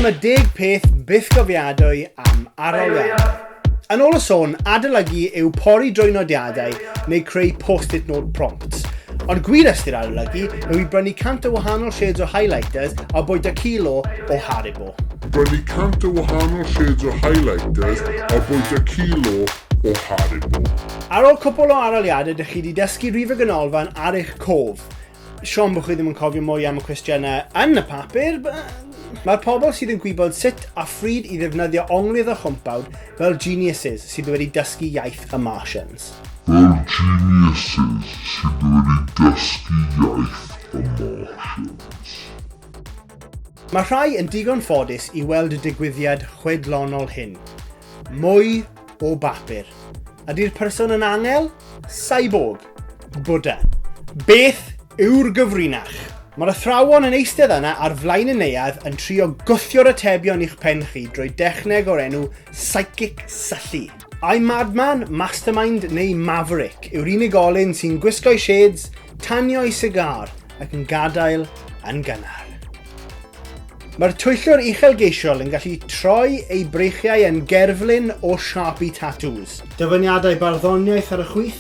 Dyma deg peth bythgofiadwy am aroliad. Yn ôl y sôn, adolygu yw pori drwy nodiadau neu creu post-it note prompts. Ond gwir ystyr adolygu yw i brynu cant o wahanol shades o highlighters a bwyta kilo o Haribo. Brynu cant o wahanol shades o highlighters a bwyta kilo o Haribo. Ar ôl cwpl o aroliadau dych chi wedi dysgu rhif y ganolfan ar eich cof. Siom bod chi ddim yn cofio mwy am y cwestiynau yn y papur, Mae'r pobl sydd yn gwybod sut a phryd i ddefnyddio onglydd a chwmpawd fel geniuses sydd wedi dysgu iaith y Martians. Fel geniuses sydd wedi dysgu iaith y Martians. Mae rhai yn digon ffodus i weld y digwyddiad chwedlonol hyn. Mwy o bapur. Ydy'r person yn angel? Cyborg? Buddha? Beth yw'r gyfrinach? Mae'r athrawon yn eistedd yna ar flaen y neuadd yn trio gwthio'r atebion i'ch pen chi drwy dechneg o'r enw Psychic Syllu. I Madman, Mastermind neu Maverick yw'r unigolyn sy'n gwisgo'i shades, tanio'i sigar ac yn gadael yn gynnar. Mae'r twyllwr uchelgeisiol yn gallu troi ei breichiau yn gerflun o siapu tatŵs. Dyfyniadau barddoniaeth ar y chwith,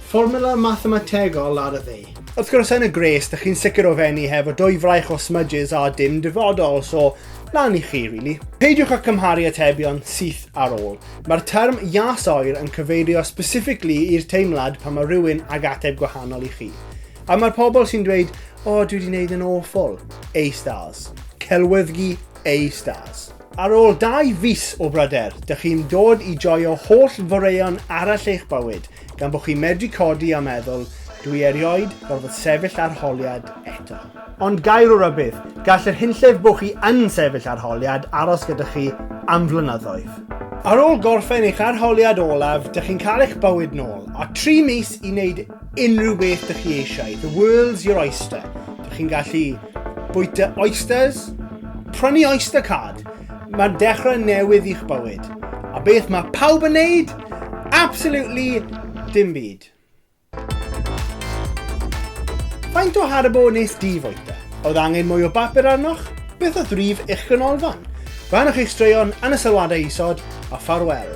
fformula mathemategol ar y dde. Wrth gwrs yn y gwres, dych chi'n sicr o fenni hefo dwy fraich o smudges a dim dyfodol, so lan i chi, really. Peidiwch â cymharu atebion syth ar ôl. Mae'r term jas oer yn cyfeirio specifically i'r teimlad pan mae rhywun ag ateb gwahanol i chi. A mae'r pobl sy'n dweud, o, dwi wedi gwneud yn awful. A stars. Celwyddgi A stars. Ar ôl dau fus o bryder, dych chi'n dod i joio holl foreuon arall eich bywyd, gan bod chi'n medru codi a meddwl, dwi erioed gorfod sefyll arholiad eto. Ond gair o rybudd, gall yr hunllef bod chi yn sefyll arholiad aros gyda chi am flynyddoedd. Ar ôl gorffen eich arholiad olaf, dych chi'n cael eich bywyd nôl, a tri mis i wneud unrhyw beth dych chi eisiau. The world's your oyster. Dych chi'n gallu bwyta oysters, prynu oyster card. Mae'n dechrau newydd i'ch bywyd. A beth mae pawb yn neud? Absolutely dim byd. Faint o harbo nes di fwyta? Oedd angen mwy o bapur arnoch? Beth oedd rif eich ganolfan? Rhanwch eich straeon yn y sylwadau isod a ffarwel.